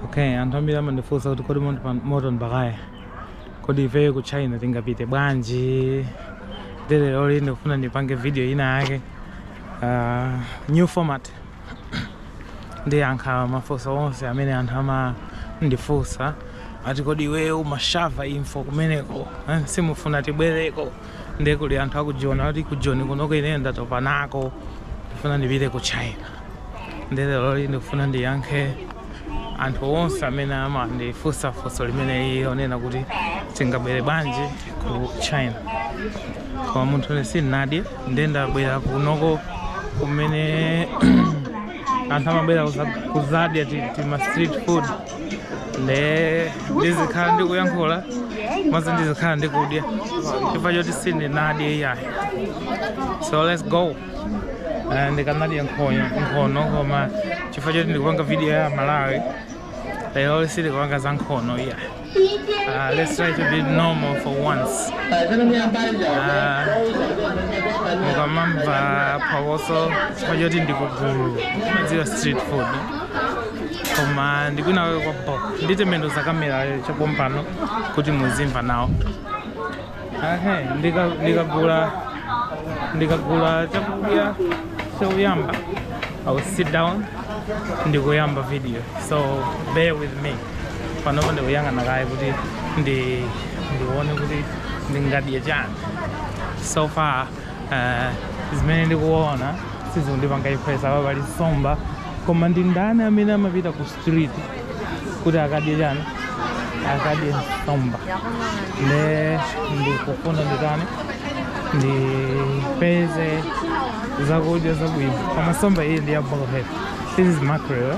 okay anthu ambiri amandifunsa kuti kodi moto Mbakaya kodi ifeyo ku china tingapite bwanji lero loli ndikufuna ndipange video ina yake uh, new format ndiyankha mafunso onse amene anthu amandifunsa ati kodi iweyo umashara info kumeneko eh, simufuna tibwereko nde kuli anthu akujiona kuti ku joni kunoko ineyo ndatopa nako ndifuna ndipite ku china nde lero loli ndikufuna ndiyankhe anthu onse amene amandifunsa funso limeneli lonena kuti tingabwere bwanji ku china koma munthune sinnadye nde ndabwera kunoko kumene anthu amabwera kuzadya tima street food nde ndizikhala ndikuyankhula komanso ndizikhala ndikudya chifukwa choti sindinadye iyayi so let's go Eh, ndikanadya nkhono koma chifukwa choti ndikupanga video ya malawi lero sindikupanga za nkhono iyayi uh, let's try to be normal for once Ah, mukamamva phokoso chifukwa choti ndikugula mwadziwa street food koma ndikwina kwake kwa bo nditembenuza kamerayo chapompano kuti muzimva nawo ahe ndikagula chakudya choyamba i will sit down ndikuyamba video so bear with me panopo ndikuyang'ana kaye kuti ndione kuti ndingadye chani so far Ah, zimene ndikuona sizikundipanga impress apa pali nsomba koma ndi ndani amene amapita ku street kuti akadye chani akadye nsomba nde ndikufuna nditani ndipeze zakudya zabwino koma nsomba iyi ndi yabo kale this is mackerel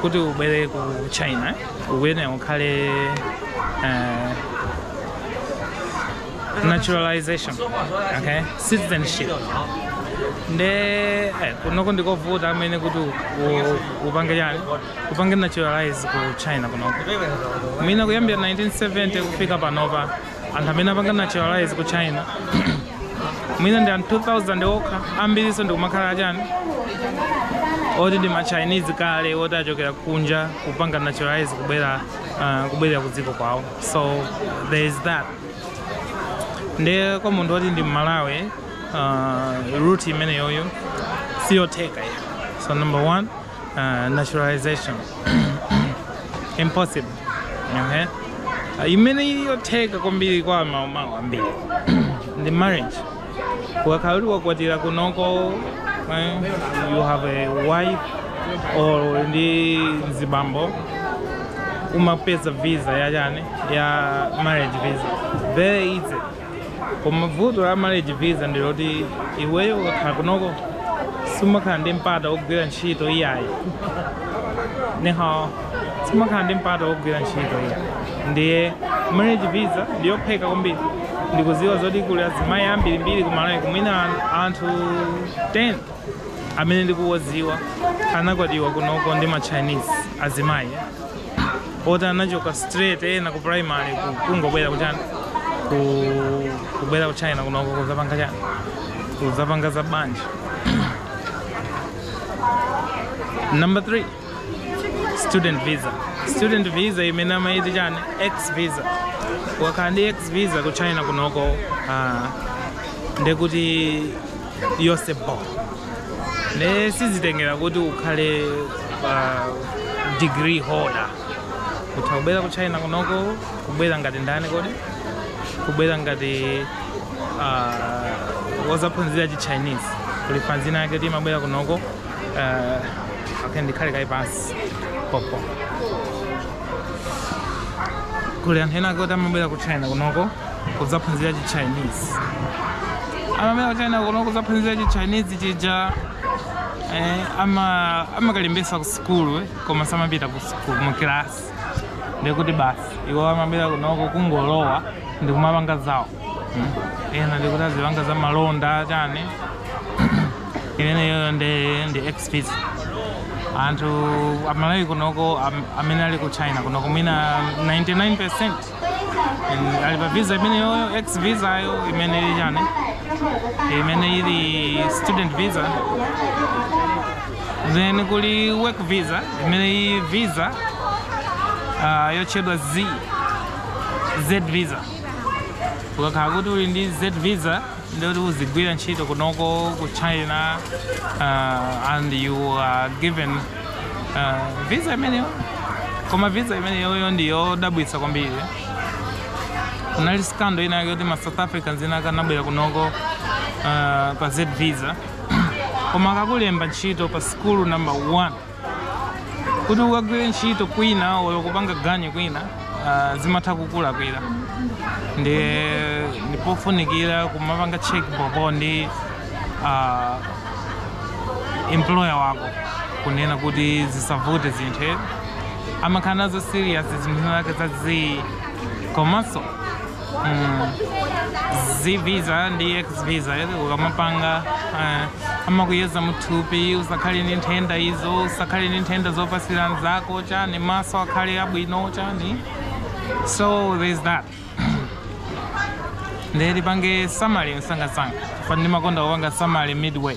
kuti ubwere ku china ukuyenera ukhale eh, naturalization okay citizenship nde eh, kunoko ndikovuta amene kuti u- u- upange chani upange naturalize ku china kunoko mwina kuyambira 1970 kufika panopa anthu amene apanga naturalize ku china mwina ndi anthu 2000 okha ambirinso ndi kumakhala achani oti ndi machinese kale oti achokera kunja kupanga naturalize kubwera uh, kubwerera ku dziko kwawo so there is that nde kwa munthu oti ndi mmalawi uh, route imeneyoyo siyotheka ayi so number one uh, naturalization impossible okay? uh, imene iliyotheka kwambiri kwa maway ambiri ndi marriage ukakhala kuti wakwatira kunoko eh, you have a wife or ndi mzibambo umapeza visa ya chani ya marriage visa very easy koma vuto la marriage visa ndi loti iweyo ukakhala kunoko sumakhala ndi mpata wogwira ntchito iyayi nihao sumakhala ndi mpata wogwira ntchito iyayi ndiye marriage visa ndiyophweka kwambiri ndikudziwa zoti kuli azimayi ambirimbiri aku Malawi mwina anthu 10 amene ndikuwadziwa anakwatiwa kunoko ndi ma chinese azimayi oti anachoka straight ena ku primary ku- kungobwera ku chani ku- kubwera ku china kunoko kudzapanga chani kudzapanga za banja number 3 student visa student visa imene amaiti chani x visa ukakhala ndi x visa ku china kunoko ah, ndekuti zonse bho ne sizitengera kuti ukhale degree holder utha kubwera ku china kunoko kubwera ngati ndani kodi kubwera ngati uh, wodzaphunzira chi chinese kuli fanz ina yake yoti imabwera kunoko uh, okay, ndikhale kaye pansi pompo kuli anthu ena ake oti amabwera ku china kunoko kudzaphunzira chi chinese amabwera ku china kunoko kudzaphunzira chi chinese chija eh, ama amakalembetsa ku sukulu eh, koma samapita ku sukulu mu kilasi ndikuti basi iwo amabwera kunoko kungolowa ndikumapanga zawo ena ndikuti azipanga za malonda chani imeneyoyo ndi x visa anthu amalawi kunoko am- amene ali ku china kunoko mwina 99 percent ali pa visa imeneyoyo x visa yo imene ili chani imene ili student visa then kuli work visa imene ili visa uh, yotchedwa z z visa ukakhala kuti uli ndi z visa ndikuti uzigwira ntchito kunoko ku china uh, and you are given uh, visa imeneyo koma visa imeneyoyo ndi yodabwitsa kwambiri kunali skando ina yake yoti ma south africans ena ake anabwera kunoko uh, pa z visa koma akakulemba ntchito pa sukulu number 1 Kuti ukagwire ntchito kwina olo kupanga ganyu kwina ah, zimatha kukulakwira ndi ndipofunikira kumapanga check bobo ndi ah, employer wako kunena kuti zisavute zinthu eh. amakhala nazo serious zinthu zake zazi komanso z visa ndi x visa ukamapanga eh, amakuyeza muthupi usakhale ndi nthenda izo usakhale ndi nthenda zopasira nzako chani maso akhale abwino chani so there's that nde tipange summary msangamsanga fani ndimakonda kupanga summary midway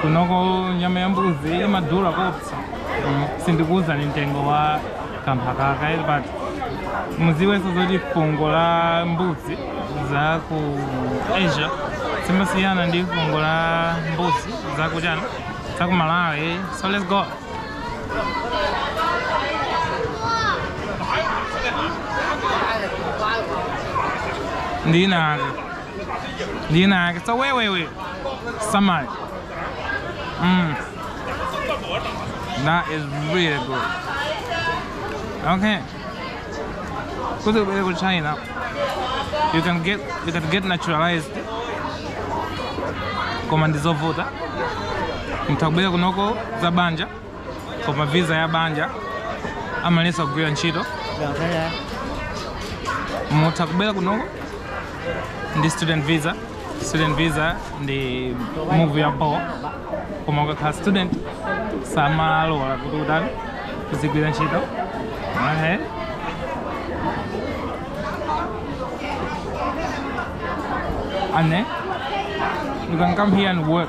kunoko nyama ya mbuzi imadula koopsa Mm, sindikuwuzani mtengo wa kamphakaka but muziwenso zoti fungo la mbuzi za ku asia simasiyana ndi fungo la mbuzi za ku China za ku malawi so let's go ndinaka Lina yake sa wewewe samai. Mm. That is really good. Okay. Go to go to China. You can get you can get naturalized. Koma ndizovuta. Mtakubwera kunoko za banja. koma visa ya banja amalesa kugwira ntchito mutha kubwera kunoko ndi student visa student visa ndi move ya bho koma ukakhala student samalola kuti utani kuzigwira ntchito Alright. and then you can come here and work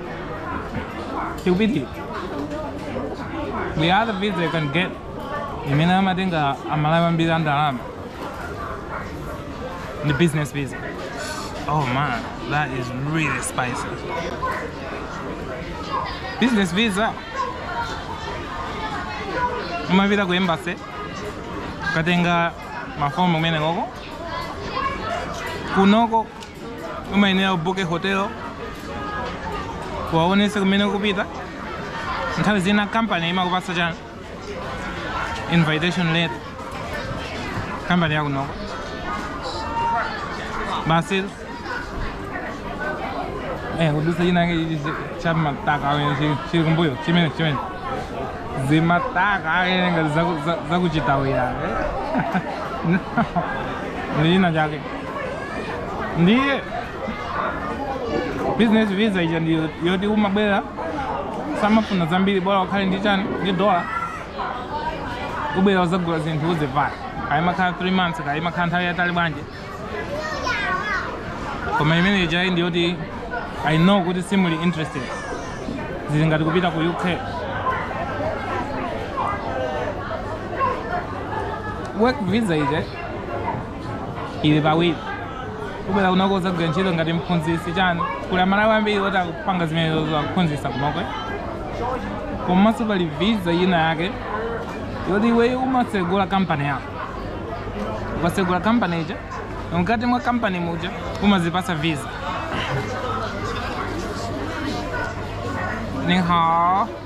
tikupiti the other visa you can get imene amatenga amalawi ambiri andalama ndi business visa oh man that is really spicy business visa umapita ku embassy kukatenga mafomu kumeneko kunoko umayenera ubuke hotelo uwaonese kumene kupita nthawi zina company imakupasa chani invitation letter company yakunoko basi eh kudusa china chake chichi cha mataka amene chili- chili kumbuyo chimene chimene zimataka amene ngati zaku- za- zakuchitawira eh? ndi china chake ndiye business visa ija ndi yoti umabwera samafuna zambiri bora ukhale ndi chani ndi dola ubwera uzagula zinthu uzivaya kaya imakhala 3 months kaya imakhala nthawi yatali bwanji koma imene ija ndi yoti i know kuti simuli interested zili ngati kupita ku uk work visa ija yachiwiri kubwera kunoko udzagwira ntchito ngati mphunzitsi chani kuli amalawi ambiri oti akupanga zimenezo akuphunzitsa kunoko komanso pali visa ina yake yoti iweyo umatsegula kampani yako ukatsegula kampani ija mkati mwa kampani muja umazipasa visa nihao.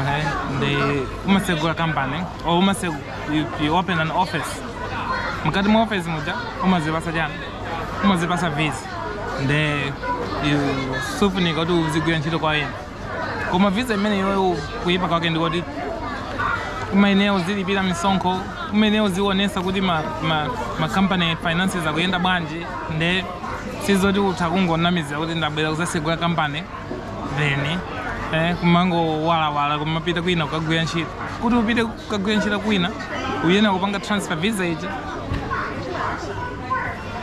Okay, nde umasegula kampani or umase you, you open an office mkati mwa office muja umazipasa chani umazipasa visa nde sufunika kuti uzigwira ntchito kwa ena koma visa imeneyo kuyipa kwake ndikuti umayenera uzilipira misonkho umayenera uzionesa kuti ma, ma, ma company finances akuyenda bwanji nde sizoti utha kungonamizira kuti ndabwera kuzasegula kampani then eh, kumangoyendayenda kumapita kwina kukagwira ntchito kuti upite kukagwira ntchito kwina uyenera kupanga transfer visa ija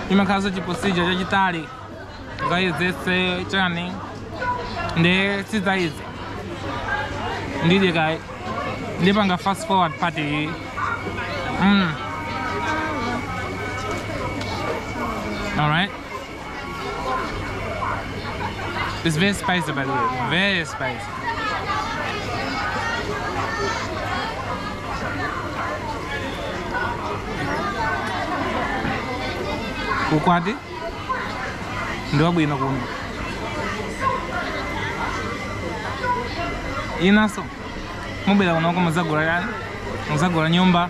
imakhalanso chiprocedure chachitali ukayezese chani nde sizayizi ndidye kaye ndipanga fast forward part iyi mm. alright It's very spicy by the way, very spicy. ukwati ndi wabwino kuno inunso mubwera kunoko muzagula yani muzagula nyumba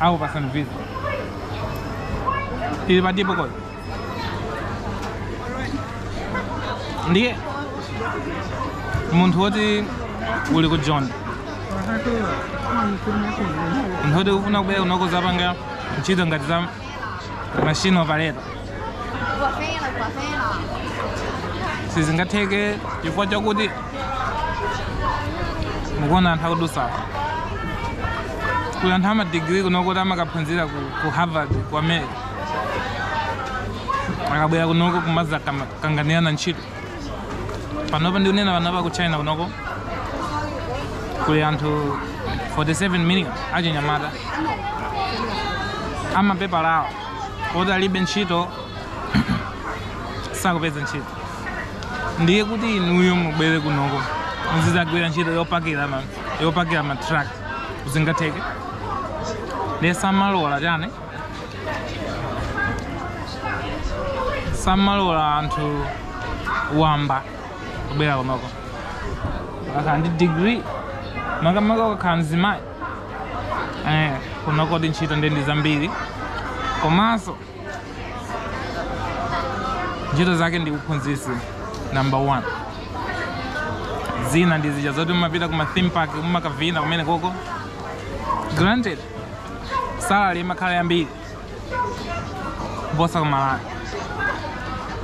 Akupatsani visa. Tili pati poko. Ndiye munthu woti uli ku Joni munthu woti ufuna kubwera kunoko kuzapanga ntchito ngati za machine operator sizingatheke chifukwa chakuti mukuona anthu akudusa kuli anthu amadigiri kunoko oti amakaphunzira ku, ku harvard ku america akabwera kunoko kumazakanganirana ntchito panopa ndikunena panopa ku china kunoko kuli anthu 47 million achinyamata amapepala awo oti alibe ntchito sakupeza ntchito ndiye kuti inuyo mubwere kunoko muzizagwira ntchito yopakira ma- yopakira matruck sizingatheke ndiye samalola chani samalola anthu wamba kubwera kunoko akakhala ndi degree makamaka ukakhala mzimayi eh, kunoko ntchito ndiye ndi zambiri komanso ntchito zake ndi uphunzitsi number one zina ndi zija zoti umapita ku ma theme park umakavina kumene koko granted salary imakhala yambiri kuposa ku malawi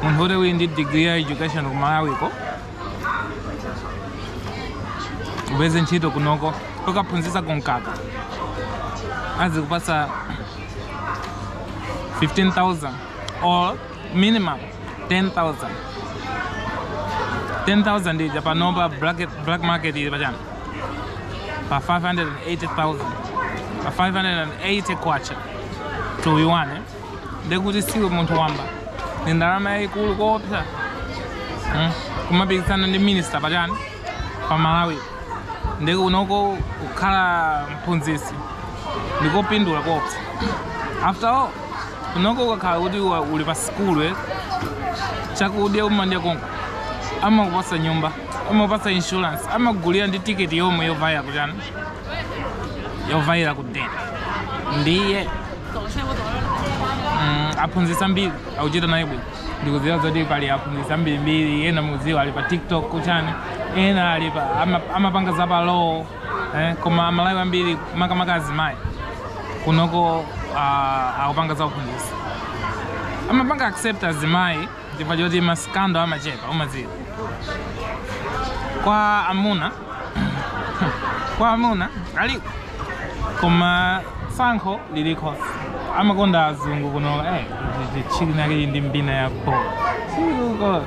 munthu woti uli ndi degree ya education ku malawiko upeze ntchito kunoko ukaphunzitsa ku mkaka azikupasa 15000 or minimum 10000 10000 ija panopa black, black market ili pachani pa 580000 pa 580 kwacha to yuan eh? ndekuti siwe munthu wamba ndi ndalama yayikulu koopsa hmm? kumapikisana ndi minister pachani pa malawi ndiye kunoko kukhala mphunzitsi ndikopindula koopsa after all kunoko ukakhala kuti wa- uli pa sikulu eh, chakudya umadya konko amakupasa nyumba amakupasa insurance amakugulira ndi tiketi yomwe yovaira kuchani yovaira kudeni ndiye mm, aphunzitsi ambiri akuchita naye bwino ndikudziwa zoti pali aphunzitsi ambirimbiri ena mukudziwa ali pa tiktok kuchani ena ali pa ama- amapanga za pa law eh, koma amalawi ambiri makamaka azimayi kunoko ah, akupanga za uphunzitsi amapanga accept azimayi chifukwa choti masikando amachepa umadziwa kwa amuna kwa amuna alipo koma sankho liliko amakonda azungu kuno eh chili nake ndi mbina yapo chiko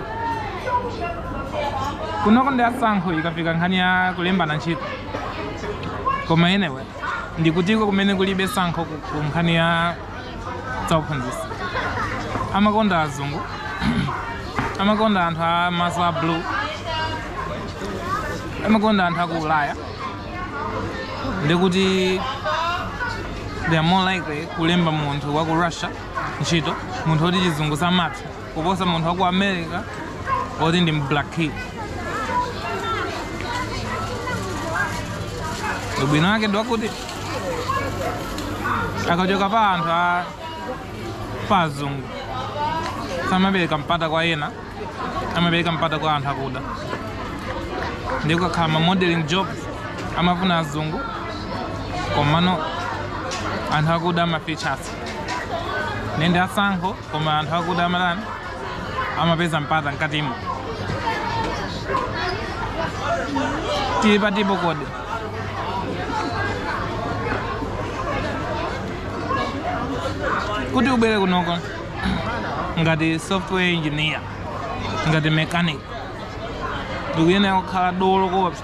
kunoko ndi asankho ikafika nkhani ya kulembana ntchito koma anyway ndikutiko kumene kulibe sankho ku- ku nkhani ya zauphunzitsi amakonda azungu amakonda anthu a maso a blue amakonda anthu aku ulaya ndikuti they are more likely kulemba munthu wa ku russia ntchito munthu woti chizungu samatha kuposa munthu wa ku america oti ndi mblack kid ubwino wake ndi wakuti akachoka pa anthu a pa azungu samapereka mpata kwa ena amapereka mpata kwa anthu akuda ndipo kukakhala ma modeling jobs amafuna azungu komano anthu akuda amafeatures nende asankho koma anthu akuda amatani amapeza mpata mkatimo tili patipo koti kuti ubwere kunoko ngati software engineer ngati mechanic ndikuyenera kukhala dolo koopsa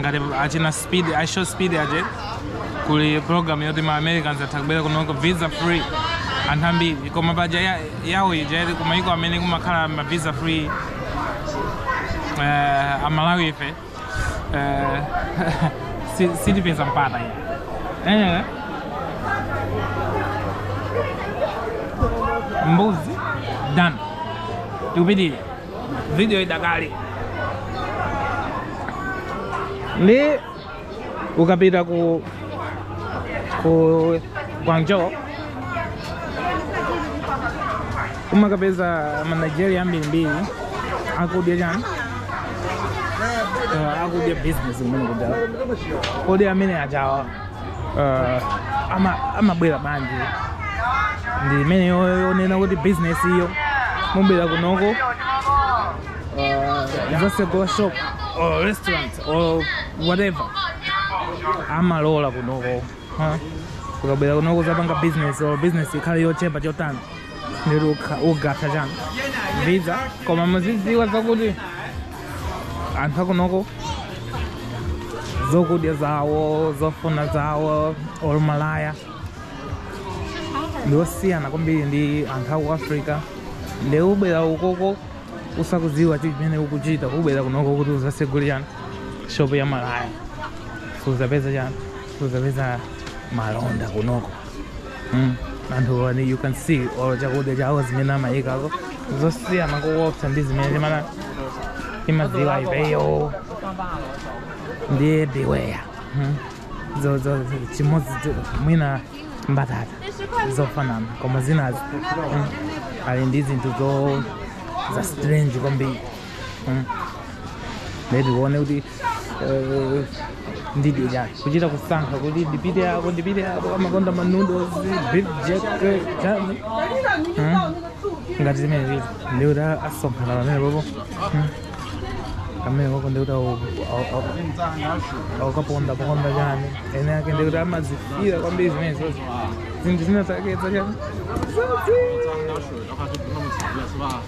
ngati achina i show speed aje kuli program yoti ma americans atha kubwera kuno visa free anthu ambiri koma paja ya- yawo ija ili kumayiko amene kumakhala ma visa free eh, amalawi ife Eh, si- sitipeza mpata ine. Eh. Mbuzi done. Tikupitire. Video idakali. Ndi ukapita ku ku Guangzhou umakapeza ma nigeria ambirimbiri akudya chani uh, akudya business kumene kuja kodi amene ajawo uh, ama- amabwera bwanji ndi imene yo- yonena kuti business iyo mubwera kunoko uh, zasegula shop or restaurant or whatever amalola kunoko huh? ukabwera kunoko zapanga business or business ikhale yochepa chotani ndi ukatha chani visa koma muzidziwa zakuti anthu akunoko zokudya zawo zofuna zawo or malaya ndiosiyana kwambiri ndi anthu aku africa nde ubwera ukoko usakudziwa chimene ukuchita kubwera kunoko kuti uzasegule chani shopu ya malaya suzapeza chani suzapeza malonda kunoko Mm, anthu one you can see or chakudya chao zimene amayikako zosiyana kuwopsa ndi zimene timana timadziwa ifeyo ndiye beware mm. zo zo zo- chimodzi cho- mwina mbatata zofanana koma zinazi mm, ali ndi zinthu zo za strange kwambiri Mm. Ndiye tione kuti eh, ndidye chani kuchita kusankha kuti ndipite apo ndipite apo amakonda ma noodles beef jerky chani Mm. ngati zimene zili ndiye kuti asonkhana pamene popo Mm. amene popo ndiye kuti au- au- au- aukaponda ponda chani ene ake ndiye kuti amazifira kwambiri zimene zozi zinthu zina zake zachani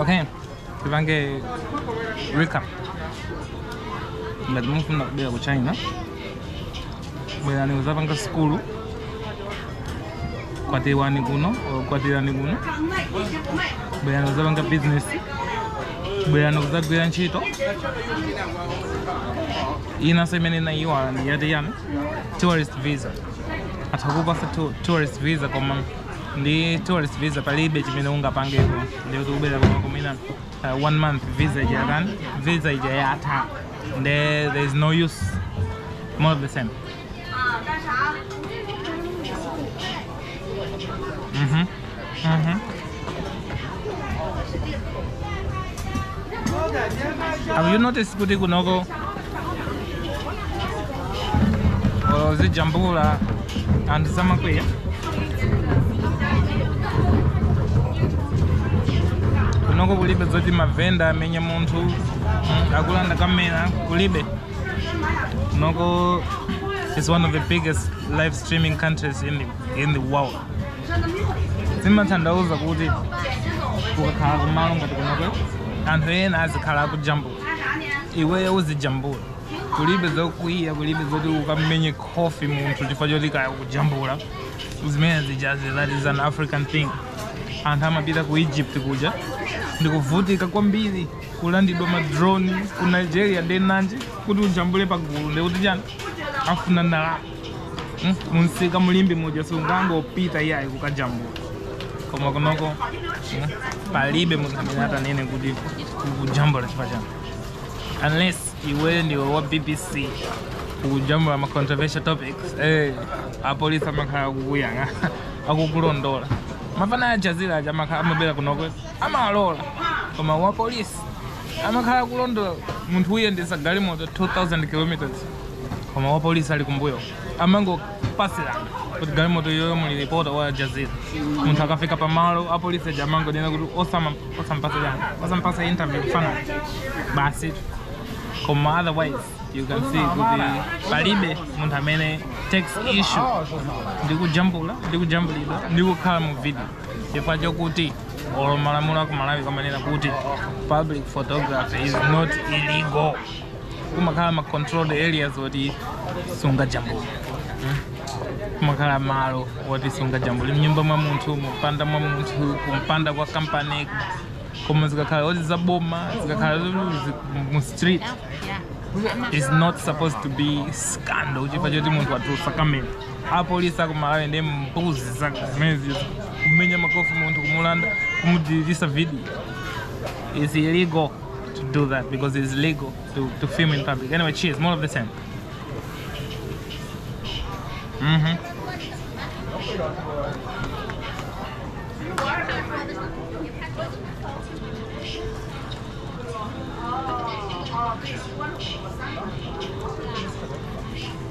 Okay, tipange recap. Ngati mufuna kubwera ku China, bwerani kuzapanga sukulu, kwatirani kuno, or kwatirani kuno, bwerani kuzapanga business, bwerani kuzagwira ntchito, inanso imene inayiwala ndi yati yanu. tourist visa atha kupasa tu- tourist visa koma ndi tourist visa palibe chimene ungapangepo ndikuti kubwera koma kumina uh, one month visa ija yatani visa ija yatha nde there is no use more of the same Mhm. Mm. Have you noticed kuti kunoko olo uzijambula anthu samakwiya kunoko kulibe zoti mavenda amenye munthu mm, akulanda kamera kulibe kunoko is one of the biggest live streaming countries in the, in the world zimatanthauza kuti ukakhala kumalo ngati kunoko anthu ena azikhala akujambula iweyo uzijambula kulibe zokwiya kulibe zoti ukamenye khofi munthu chifukwa choti kaya ukujambula zimene zijazi that is an african thing anthu amapita ku egypt kuja ndikuvutika kwambiri kulandidwa ma drone ku nigeria nde nanji kuti ujambule pagulu nde kuti chani afuna ndalama Mm, munsika mu Limbe muja sungangopita iyayi kukajambula koma kunoko mm, palibe munthu amene atanene kuti kujambula chifukwa chani unless iwe ndiwe wa bbc kujambula ma controversial topics eh, apolisi amakhala akukuyang'a akukulondola mafana a Jazeera aja amakhala amabwera kunoko amalola koma wa polisi amakhala kulondola munthu kuyendesa galimoto 2000 kilometers koma wa polisi ali kumbuyo amangopasirana kuti galimoto iyoyo muli ripota wa Jazeera munthu akafika pamalo apolisi aja amangonena kuti osama- osampasirana osampasa interview kufanana basi koma otherwise you can see kuti palibe munthu amene takes issue ndi kujambula ndi kujambulidwa ndi kukhala mu video chifukwa chokuti olo malamulo aku malawi amanena kuti public photography is not illegal kumakhala ma controlled areas oti sungajambule hmm? kumakhala malo oti sungajambule mnyumba mwa munthu mumpanda mwa munthu kumpanda kwa kampani koma zikakhala oti zaboma zikakhala mu street it's not supposed to be scandal chifukwa choti munthu watulutsa kamera apolisi akumalawi ndi mbuzi zaka zimenezizo kumenya makofi munthu kumulanda kumudilitisa video it's illegal to do that because it's legal to, to film in public anyway cheers more of the same mm -hmm. Oh,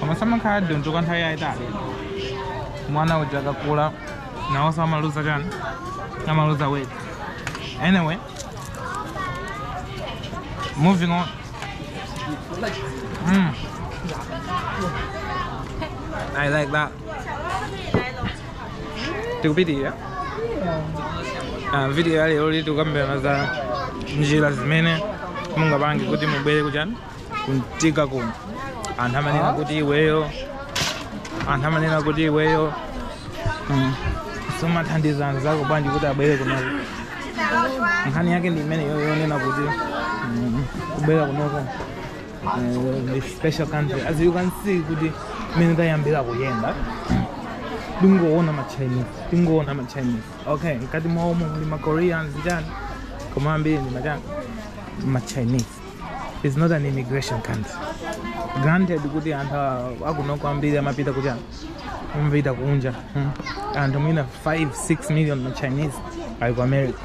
koma samakhala adunto kwa nthawi yayitali mwana uja akakula nawonso amaluza chani amaluza weight anyway moving on mm. I like that tikupitirira Ah, video ya leroyi tikukambirana za njira zimene mungapange kuti mubwere kuchani kuntika kuno anthu amanena kuti iweyo anthu amanena kuti iweyo mm, sumathandiza anzako bwanji kuti abwere kunoko nkhani yake ndi imene yo- yonena kuti mm, kubwera kunoko eh, ndi special country as you can see kuti mmene tayambira kuyenda tingoona machinese tingoona machinese okay mkati mwaomo muli makoreans chani koma ambiri ndi machani machinese it's not an immigration country granted kuti anthu a- akunoko ambiri amapita kuti amapita kunja mm. anthu mwina 5 6 million ma chinese ali ku america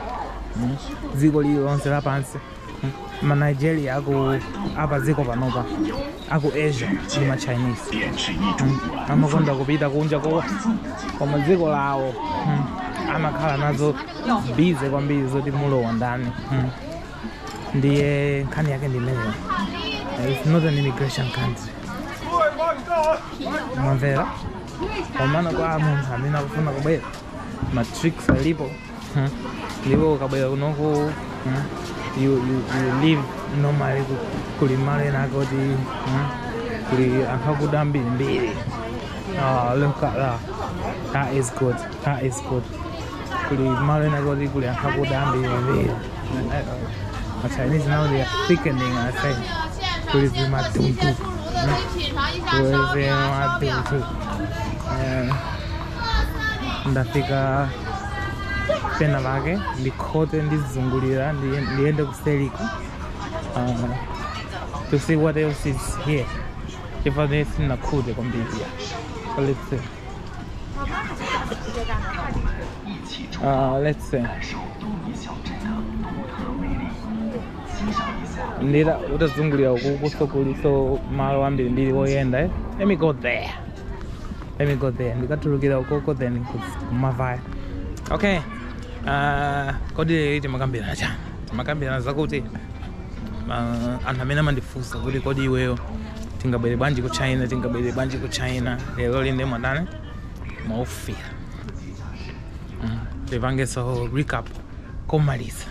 mm. dziko lililonse lapansi mm. ma nigeria apa dziko panopa aku asia ndi ma chinese mm. amakonda kupita kunja ko koma dziko lawo mm. amakhala nazo bize kwambiri zoti mulowa ndani mm. ndiye nkhani yake ndi imeneyo its not an immigration country mwamvera komano kwa munthu amene akufuna kubwera matricks alipo hmm. ndipo ukabwera kunoko hmm, you, you, you live normally ku- kuli malo ena ake oti hmm, kuli anthu akuda ambirimbiri Ah, look at that. That is good. a escort kuli malo ena kuti kuli anthu akuda ambiri the Chinese now they are thickening i say kuli zimatuntu kuli zimatuntu Eh, ndafika pena pake ndikhote ndizungulira ndiye- ndiyende kuselika uh, to see what else is here chifukwa nde sinakhute kwambiri let's see Uh, let's see. njira utazungulira ukukuso kuliso malo ambiri mbiri oyenda eh? let me go there let me go there ndikatulukira ukoko then kumavaya okay uh, kodi lero timakambirana chani timakambirana zakuti uh, anthu amene amandifunsa kuti kodi iweyo tingabwere bwanji ku china tingabwere bwanji ku china lero nde mwatani mwaufira mm. tipangeso recap komaliza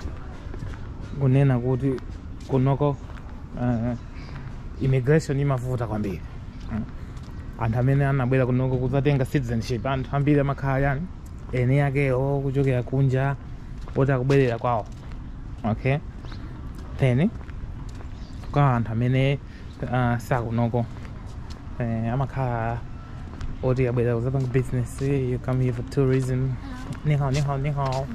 kunena kuti kunoko uh, immigration imavuta kwambiri mm. anthu amene anabwera kunoko kuzatenga citizenship anthu ambiri amakhala yani eni akewo kuchokera kunja oti akubwerera kwawo okay then kwa anthu amene uh, sakunoko eh, amakhala oti abwera kuzapanga business you come here for tourism nihao nihao nihao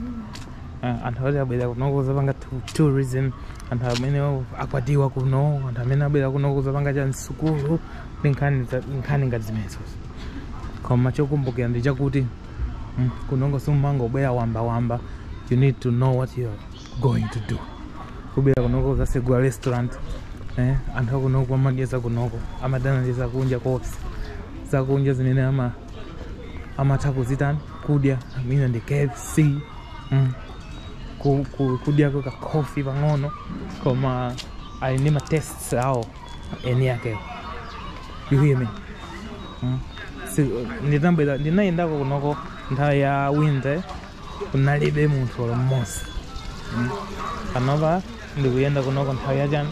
uh, anthu oti abwerera kunoko kuzapanga tu- tourism anthu amene akwatiwa kuno anthu amene abwerera kunoko kuzapanga zamsukulu nkhani za- nkhani ngati zimenezo koma chokumbukira ndi chakuti mm, kunoko simumangobwera wamba wamba you need to know what you're going to do kubwera kunoko uzasegula restaurant eh, anthu akunoko amadya zakunoko amadana ndi zakunja kopsa zakunja zimene ama amatha kuzitani kudya I mean ndi kfc mm. ku- ku- kudyako kakofi pang'ono koma ali ndi matests awo eni yakewo you hear me mm? si ndinabwera ndinayendako kunoko nthawi ya winter kunalibe munthu olo mmodzi mm? panopa ndikuyenda kunoko nthawi ya chani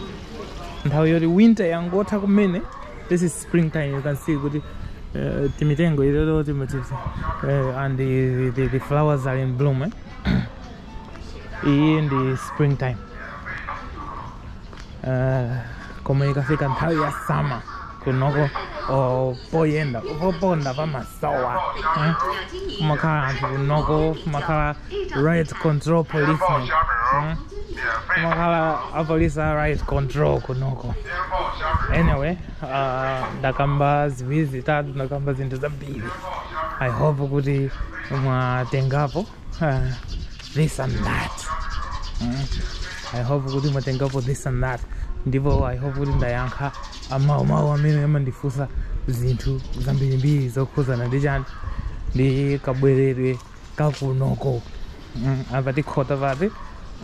nthawi yoti winter yangotha kumene this is spring time you can see kuti uh, timitengo itoto timati uh, and the, the, the flowers are in bloom eh? iyi ndi spring time uh, koma ikafika nthawi ya summer kunoko oh, poyenda poponda pamasowa eh? kumakhala anthu kunoko kumakhala riot control policemen eh? kumakhala apolisi a riot control kunoko anyway uh, ndakamba ziwiri zitatu ndakamba zinthu zambiri i hope kuti mwatengapo uh, this and that mm. i hope kuti mwatengapo this and that ndipo i hope kuti ndayankha mawumawu amene amandifunsa zinthu zambirimbiri zokhuzana ndi chani ndi kabweredwe kakunoko mm. apa tikhota pati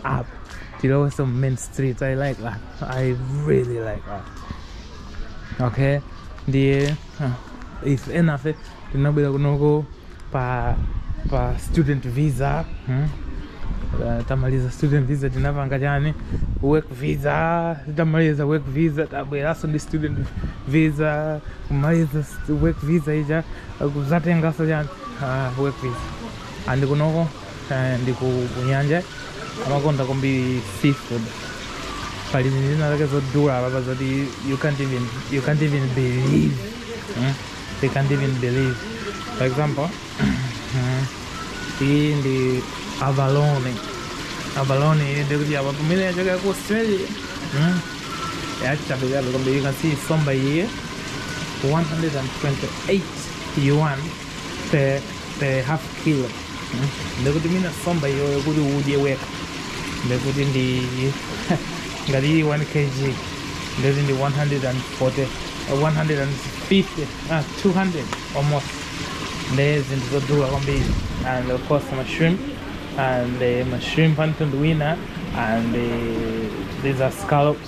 apa tilowe some main streets i like that i really like that okay ndiye Ife enafe tinabwera kunoko pa pa student visa hmm? Uh, tamaliza student visa tinapanga chani work visa tamaliza work visa tabweranso ndi student visa kumaliza s- work visa ija kuzatenganso chani uh, work visa and kunoko eh, ndi ku ku nyanja amakonda kwambiri seafood pali zinthu zina zake zodula papapa zoti you can't even, you can't even believe mm? you can't even believe for example mm, iyi ndi abalone abalone iyi ndikuti apa pamene yachokera ku australia mm? yachabe kwambiri you can see nsomba iyi 128 yuan per, per half kilo mm. ndikuti mina nsomba iyo kuti udye wekha ndikuti ndi ngati ili 1 kg ndikuti ndi 140 150 ah, 200 almost ndi zinthu zodula kwambiri and of course ma shrimp and uh, ma shrimp panthu ndi wina and uh, these are scallops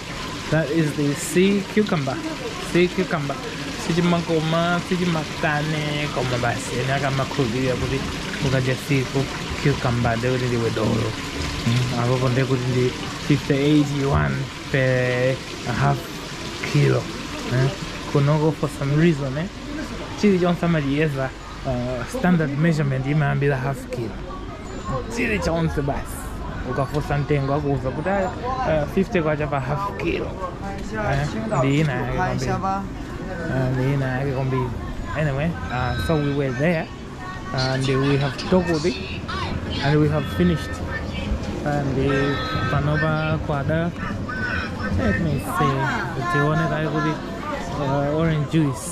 That is the sea cucumber. Sea cucumber. sichimakoma sichimatani koma basi ena amakhulupirira kuti ukadya sea cucumber ndiye kuti ndiwe dolo Mm, apopo ndiye kuti ndi 58 yuan per half kilo eh? kunoko for some reason eh? chilichonse amachiyeza uh, standard measurement imayambira half kilo chili chonse basi ukafunsa mtengo akuuza kuti "Ah, ah, 50 kwacha pa half kilo Eh, ndi ina yake kwambiri Ah, ndi ina yake kwambiri anyway uh, so we were there and we have tokoted and we have finished and uh, panopa kwada let me see tione kaye kuti uh, orange juice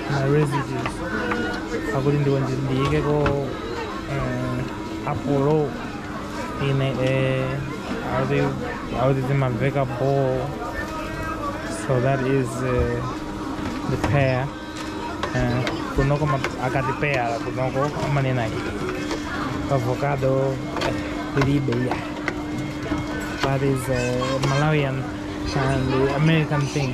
my orange juice akuti ndiwo ndi- ndiikeko um, apple in eh, akuti akuti zimamveka bo so that is uh, the pear uh, kunoko ma- akati pear kunoko amanena avocado eh, ndi peya that is a malawian and american thing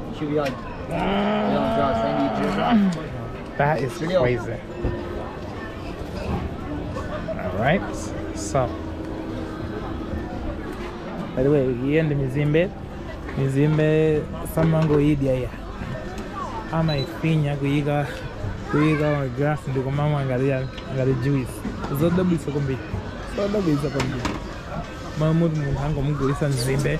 should be like, that is crazy. All right, so. By the way, here in the Mizimbe, Mizimbe, someone go eat here. Ama ifinya kuiga kuiga grass ndio kwa mama angalia angalia juice. Zodobi sokombi. Zodobi sokombi. Mahmud Munhango Mugurisa Mzimbe.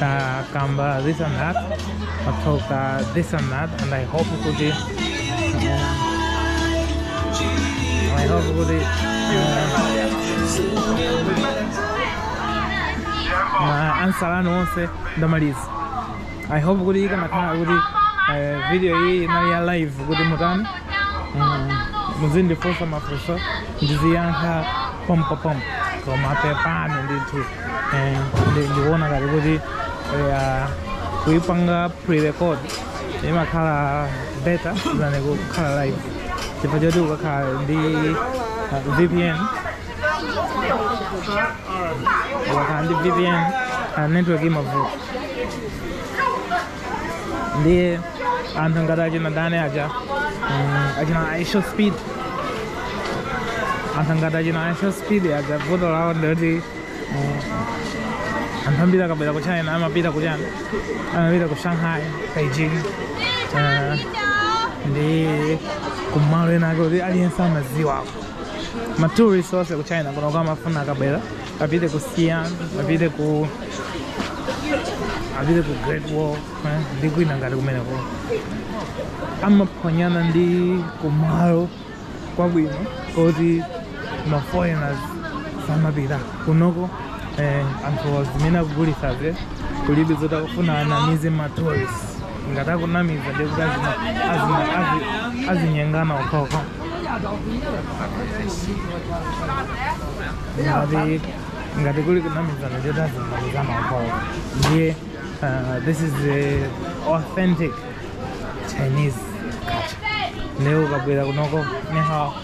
takamba this and that tatoka this and that and i hope kuti i hope kuti ma answer anu onse ndamaliza i hope kuti ikanakhala kuti eh, video iyi inali ya live kuti mutani Mm, muzindifunsa mafunso ndiziyankha pompopompo koma pepani ndithu eh, ndi- ndikuona ngati kuti eh, ah, kuipanga pre-record imakhala better than kukhala live chifukwa choti ukakhala ndi ah, vpn ukakhala ndi vpn ah, network imavuta ndiye anthu ngati achina dani aja mm, achina ishowspeed anthu ngati achina ishowspeed aja vuto lawo ndi loti mm, anthu ambiri akabwera ku china amapita ku china amapita ku shanghai beijing eh, ndi kumalo ena ake oti aliyense amaziwako matourist onse ku china kuno kumafuna akabwera apite ku xi'an apite ku apite ku great wall eh, ndi kwina ngati kumeneko amaphonyana ndi kumalo kwabwino koti ma foreigners samapita kunoko eh, anthu zimene akugulitsaze kulibe zoti akufuna anamize ma tourist ngati akunamiza ndi kuti azima- azima- azi- azinyengana okhaokha ngati ngati kuli kunamizana ndi kuti azinamizana okhaokha ndiye uh, this is the authentic chinese culture leo ukabwera kunoko nihao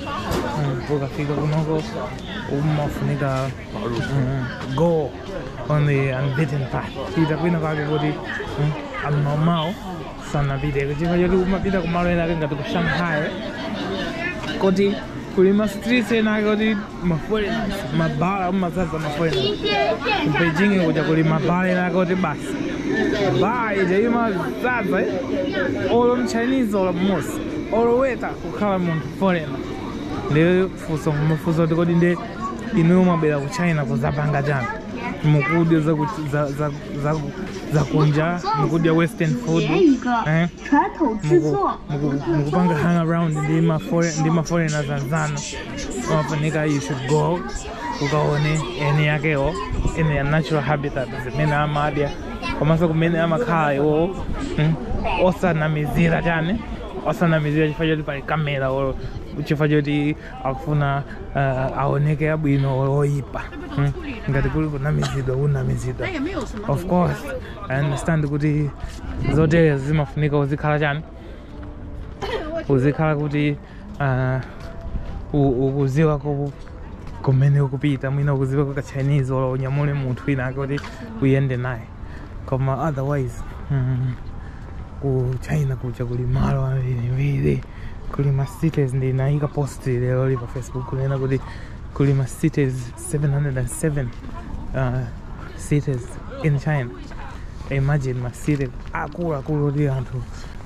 mm, ukafika kunoko umafunika mm, go on the unbeaten path pita kwina kwake koti mm, ammaumau sanapite chifukwa choti umapita kumalo ena ake ngati ku shanghai koti kuli ma streets ena ake oti maforeigners mabala amazaza maforeigners ku beijing kuja kuli mabala ena akoti basi baa ija imazaza eh? olo mchinese olo mmosi olo weta kukhala munthu foreigner ndiye funso umafunsa kuti kodi ndi inuyo mwabwera ku china kuzapanga chani mukudya za ku- za- za- za- za kunja mukudya western food eh? muku- muku- mukupanga hang around ndi ma foreign- ndi ma foreigner anzanu umafunika you should go ukaone eni yakewo in their natural habitat zimene amadya komanso kumene amakhala iwowo mm, osanamizira chani osanamizira chifukwa choti pali kamera or chifukwa choti akufuna uh, aoneke abwino or oyipa mm. ngati kuli kunamizidwa unamizidwa of course i understand kuti zoterezi zimafunika uzikhala chani uzikhala kuti uh, ukuziwa ko kumene ukupita mwina ukuziwa ko ka chinese olo unyamule munthu wina ake kuti uyende naye koma otherwise mm, ku china kuja kuli malo ambirimbiri kuli ma cities ndinayika post lero li pa facebook kunena kuti kuli ma cities 707 uh, cities in china imagine ma cities akuluakulu kuti anthu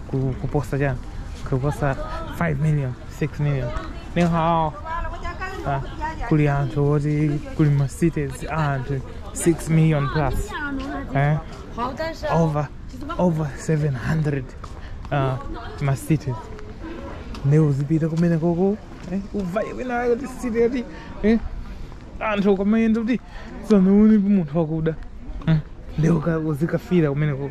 ku- kuposa chani kuposa 5 million 6 million ni hao ah, kuli anthu oti kuli ma cities a anthu 6 million plus eh? over over 700 uh, ma cities nde uzipita kumene koko eh? uvaye wina kuti city yoti eh? anthu ukamayenda kuti sanaonepo munthu wakuda mm. nde uzikafira kumene koko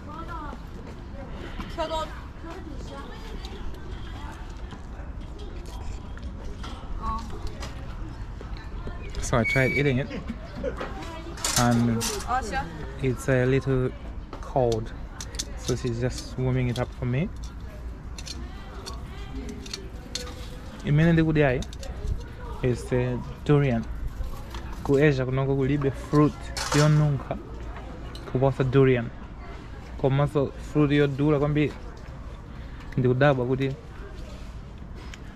So I tried eating it and it's a little cold so she's just warming it up for me imene ndikudyayi is the durian ku asia kunoko kulibe fruit yonunkha kuposa durian komanso fruit yodula kwambiri ndikudabwa kuti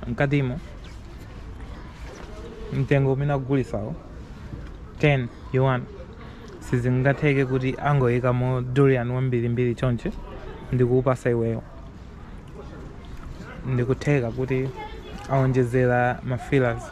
mkatimo mtengo umene akugulisawo 10 yuan sizingatheke kuti angoyikamo durian wambirimbiri chonchi ndikukupasa iweyo ndikutheka kuti aonjezera ma fillers